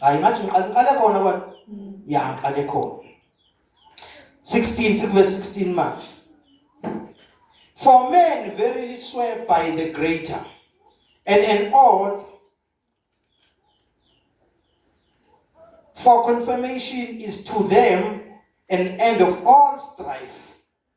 hayi ngathi ngiqale ngiqale khona kwa ya ngiqale khona 16 sikuverse 16 manje for men verily swear by the greater and an oath for confirmation is to them an end of all strife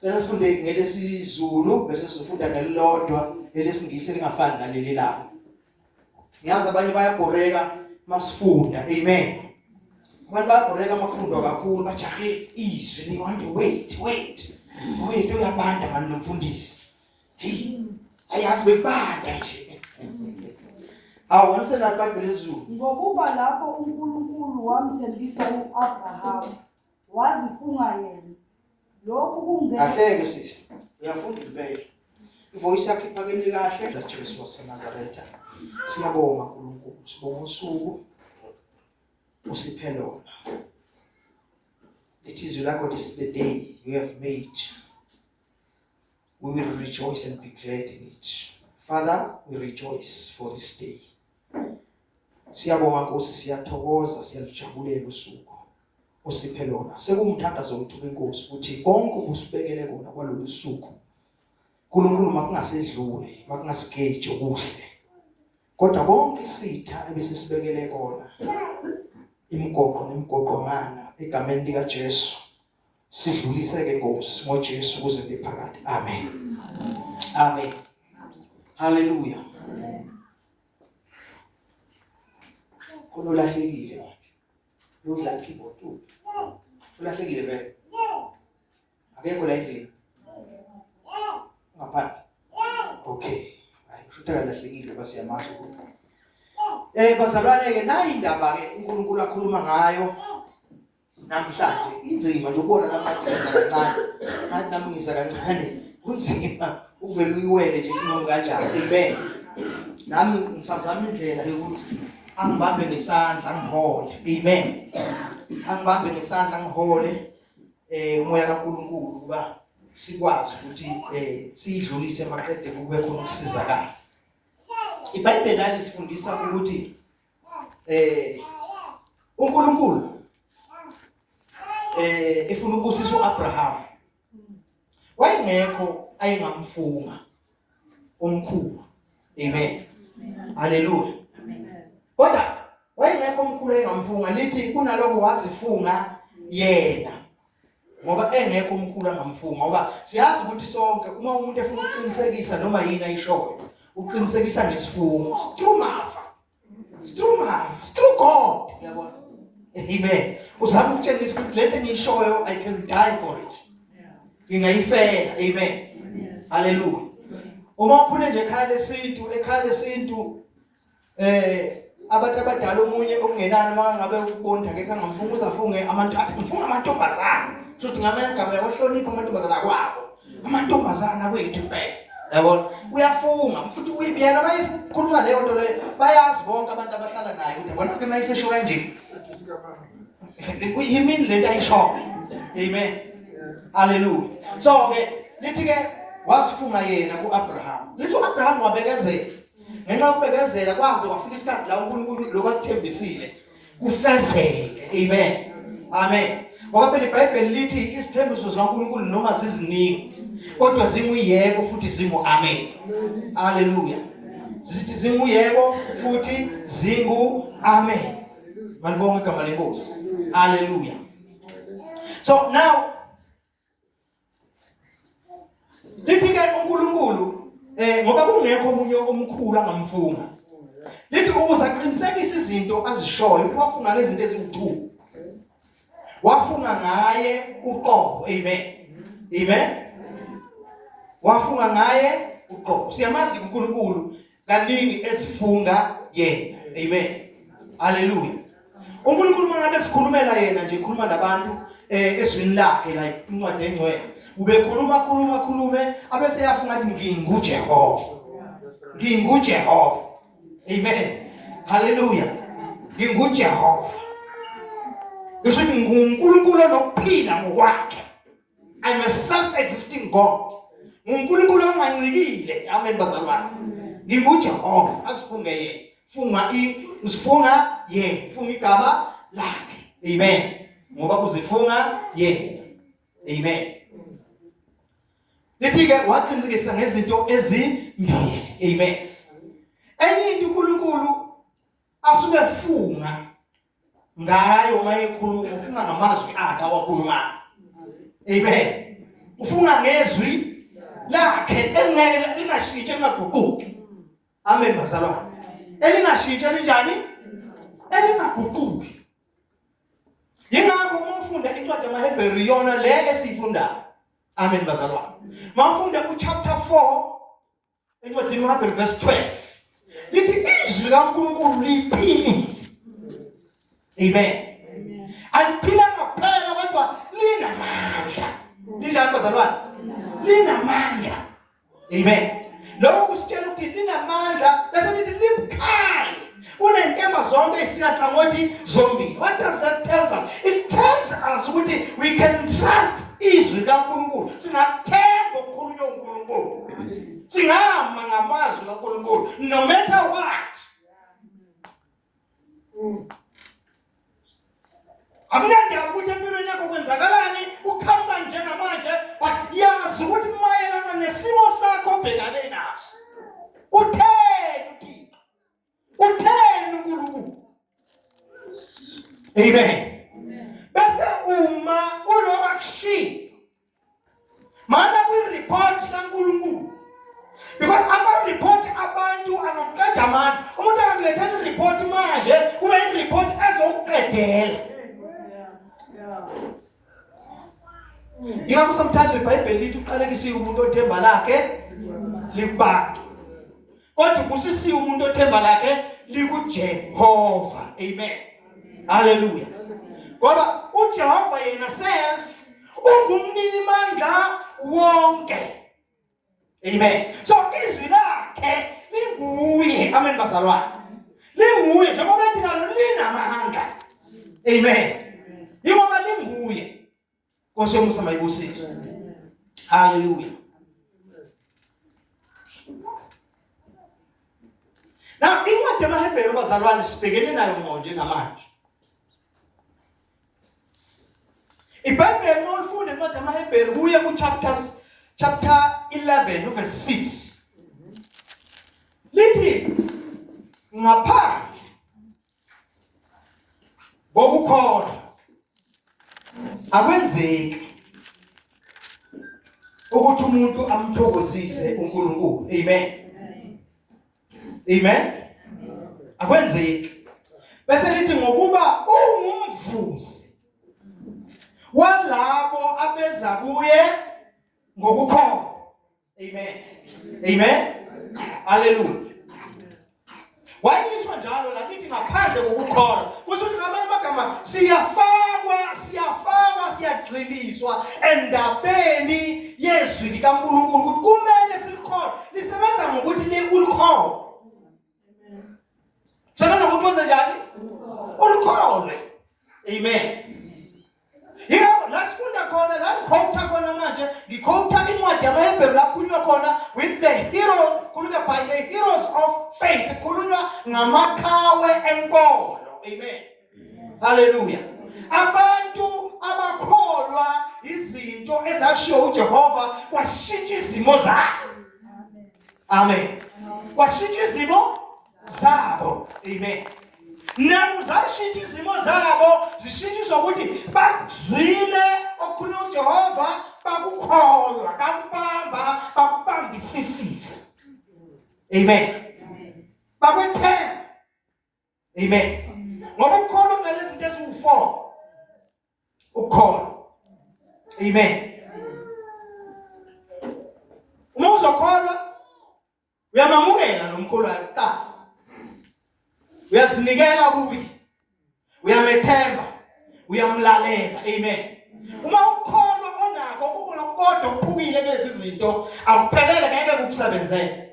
Cela sifunde ngelesizulu bese sizofunda ngelilodwa elesingisi elingafani naleli lami. Ngiyazi abanye bayagoreka masifunda. Amen. Abantu bayagoreka makufundwa kakhulu bajahe izwi ni want to wait wait. Wait uyabanda manje nomfundisi. Hey ayazi bebanda nje. Awonse lapha ngelizulu. Ngokuba lapho uNkulunkulu wamthembisa uAbraham wazifunga yena lokhu kungeke kahleke sisi uyafunda impela ivoice yakhe iphakeme kahle lajesu wasenazaretha siyabonga nkulunkulu sibonga usuku usiphe lona lithi izwi lakho this is the day you have made we will rejoice and be glad in it father we rejoice for this day Siyabonga Nkosi siyathokoza siyalijabulela usuku osiphe lona sekumthandazo wethu kuNkosi ukuthi konke ubusibekele kona kwalolu suku uNkulunkulu makungasedluli makungasigeje kuhle kodwa konke isitha ebesisibekele kona imigoqo nemigoqomana egameni lika Jesu sidluliseke Nkosi ngoJesu kuze ngephakade amen amen haleluya kunolahlekile manje udla keyboard ulahlekile vele akekho la endlini ngaphandle okay hayi futhi akalahlekile base yamazi ukuthi eh bazalwane ke nayi indaba ke uNkulunkulu akhuluma ngayo namhlanje inzima nje ubona namhlanje ngenza kancane ngathi nami ngiza kancane kunzima uvele uyiwele nje isinqumo kanjani amen nami ngisazama indlela yokuthi angibambe ngesandla ngihole amen angibambe ngesandla ngihole eh umoya kaNkuluNkulu kuba sikwazi ukuthi eh sidlulise maqede kube khona ukusizakala iBhayibheli alisifundisa ukuthi eh uNkulunkulu eh efuna ukubusisa uAbraham wayengekho ayengamfunga umkhulu amen haleluya kodwa wayengekho umkhulu ayengamfunga lithi kunaloko wazifunga yena ngoba engekho umkhulu angamfunga ngoba siyazi ukuthi sonke uma umuntu efuna ukuqinisekisa noma yini ayishoyo uqinisekisa ngesifungo strumava strumava stru god yabona amen uzama ukutshengisa ukuthi lento engiyishoyo i can die for it ngingayifela amen haleluya uma ukhule nje ekhaya lesintu ekhaya lesintu eh abantu abadala omunye okungenani makangabe ukubonda ke kangamfunga uzafunge amantu athi ngifunga amantombazana kusho ukuthi ngamanye igama yawahlonipha amantombazana kwabo amantombazana kwethu impela yabona uyafunga futhi uyibiyela bayikhuluma leyo nto leyo bayazi bonke abantu abahlala naye ukuthi yabona ke mayisesho kanje yimini le nto ayishoyo amen haleluya so-ke lithi-ke wasifunga yena ku-abraham lithi u-abraham wabekezela ngenxa yokubekezela kwaze kwafika isikhathi la uNkulunkulu lokho akuthembisile kufezeke amen amen ngoba phela iBhayibheli lithi isithembiso sikaNkulunkulu noma ziziningi kodwa zinguyebo futhi zingu amen haleluya zithi zinguyebo futhi zingu amen malibonga igama lenkosi haleluya so now lithi ke uNkulunkulu eh ngoba kungekho omunye omkhulu angamfunga lithi ukuze aqinisekise izinto azishoyo kwafunga nezinto eziwuchu wafunga ngaye uqobo amen amen wafunga ngaye uqobo siyamazi uNkulunkulu kaningi ezifunga yena amen haleluya uNkulunkulu uma ngabe sikhulumela yena nje khuluma nabantu eh eswini lakhe la incwadi engcwele ubekhuluma khuluma khulume abese yafunga ukuthi nginguJehova nginguJehova amen haleluya nginguJehova ngisho nginguNkulunkulu onokuphila ngokwakhe I'm a self-existing God. NguNkulunkulu ongancikile. Amen bazalwane. NginguJehova asifunge yena. Funga i usifunga yena. Funga igama lakhe. Amen. Ngoba uzifunga yena. Amen. Lithi ke waqinisekisa ngezinto ezimbili. Amen. Enye into uNkulunkulu asuke funga ngayo uma ekhuluma ufuna ngamazwi akhe awakhulumayo amen ufuna ngezwi lakhe engeke lingashintshi lingaguquki amen bazalwane elingashintshi linjani elingaguquki yingakho uma ufunda incwadi yamahebheru yona le esiyifundayo amen bazalwane mawufunda kuchapter 4 encwadini uHabheri verse 12 lithi izwi likaNkulunkulu liphilile amen aliphila ngaphela kodwa linamandla linjani bazalwane linamandla amen lokho kusitshela ukuthi linamandla bese lithi libukhali unenkemba zonke isingathangothi zombili what does that tells us it tells us ukuthi we can trust izwi kaNkulunkulu singathemba okukhulunywa uNkulunkulu singama ngamazwi kaNkulunkulu no matter what akunandaba ukuthi empilweni yakho kwenzakalani ukhamba njengamanje but yazi ukuthi mayelana nesimo sakho obhekane naso utheni Utheni uNkulunkulu? Amen. Bese uma uloba kushiya. Mana kwi report kaNkulunkulu. Because ama report abantu anokuqeda amandla. Umuntu angakulethela i report manje, kube i report ezokuqedela. Ingakho sometimes iBhayibheli lithi uqalekisiwe umuntu othemba lakhe likubantu. Kodwa ubusisiwe umuntu othemba lakhe likuJehova. Amen. Hallelujah. Ngoba uJehova yena self ungumnini mandla wonke. Amen. So izwi lakhe linguye. Amen bazalwane. Linguye njengoba ethi nalo linamahanga. Amen. Yingoba linguye. Nkosi yomusa mayibusise. Hallelujah. Na incwadi yamaHebheru bazalwane sibhekene nayo ngqo njengamanje. IBhayibheli uma ulifunda incwadi yamaHebheru kuye kuchapters chapter 11 verse 6 lithi ngaphandle kokukholwa akwenzeki ukuthi umuntu amthokozise uNkulunkulu amen Amen. Akwenzeki. Bese lithi ngokuba ungumvuzi walabo abeza kuye ngokukhona. Amen. Amen. Hallelujah. Wayisho njalo lalithi ngaphandle kokukholwa. Kusho ukuthi ngamanye amagama siyafakwa, siyafakwa, siyagxiliswa endabeni yezwi likaNkulunkulu ukuthi kumele sikholwe. Lisebenza ngokuthi le ulikhona. Sebenza ngokuthi wenze njani? Ulikhona. Amen. Yebo, la sifunda khona, la ngikhotha khona manje, ngikhotha incwadi yamaHebheru la kukhulunywa khona with the heroes, kukhulunywa by the heroes of faith, kukhulunywa ngamaqhawe enkolo. Amen. Haleluya. Abantu abakholwa izinto ezashiwo uJehova kwashintsha izimo zabo. Amen. Kwashintsha izimo zabo. Amen. Naku zashintsha izimo zabo zishintshiswa ukuthi bazwile okukhuluma uJehova bakukholwa bakubamba bakubambisisisa. Amen. Bakwethemba Amen. Ngoba ukhona ngale zinto eziwu4. Ukhona. Amen. Uma uzokholwa uyamamukela lo mkhulu ayita. Uyazinikela kuye. Uyamethemba. Uyamlalela. Amen. Uma ukhona onakho ukulokodwa okuphukile kulezi zinto awuphelele ngeke kukusebenzele.